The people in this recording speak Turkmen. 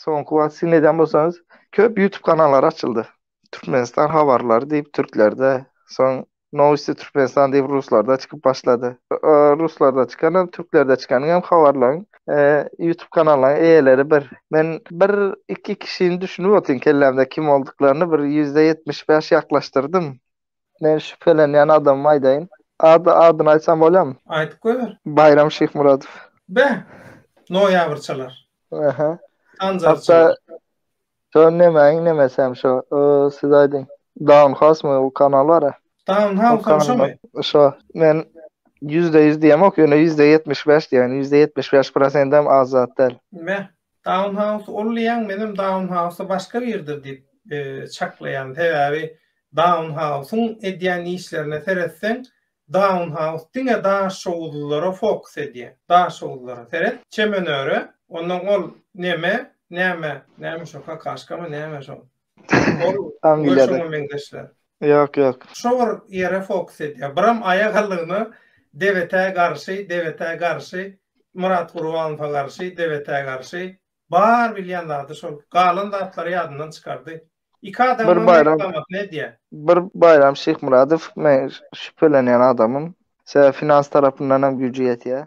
Soňky wagt siz nädýän bolsaňyz, köp YouTube kanallary açyldy. Türkmenistan habarlary diýip türklerde, soň Nowosti Türkmenistan diýip ruslarda çykyp başlady. Ruslarda çykan hem, türklerde çykanyň hem habarlaryň YouTube kanallaryň eýeleri bir. Men bir iki kişini düşünip otyryn kellämde kim bolduklaryny bir ýüzde ýetmiş bäş ýaklaşdyrdym. Men şübhelenýän adamymy aýdaýyn. Ady adyny aýtsam bolýamy? Aýdyp goýber. Baýram Şyhmyradow. Be! Noýabrçalar. Aha. Sanjarçalar. Hatda şo nemäniň nemesi hem şo. Siz aýdyň. Down House-my bu kanal bar-a? Down House-am şomy? Şo. Men ýüzde ýüz diýemok, ýöne ýüzde ýetmiş bäş diýäýin. Ýüzde ýetmiş bäş prosendem az zat däl. Be! Downhouse ol diýýäň, menem downhouse başga birdir diýip çaklaýan. Sebäbi downhouse-yň edýän işlerine seretseň, downhouse diňe daşoguzlylara fokus edýär. Daşoguzlara seret, çemenöre, onnoň ol neme, näme, näme şo kakaşkamy, näme şo, Ol Angliýada. Şoňa meňzeşler. Ýok, ýok. Şo bir ýere fokus edýär. Biram aýa gallygyna Debetä garşy, Debetä garşy, Myrat Gurbanowa garşy, Debetä garşy. Bar bilýän zady şol. Galan zatlary ýadyndan çykardy. Iki adam bir baýram, reklamasyny edýär. Bir Baýram Şyhmyradow men şübhelenýän adamym. Sebäbi finans tarapyndan hem güýji ýetýär.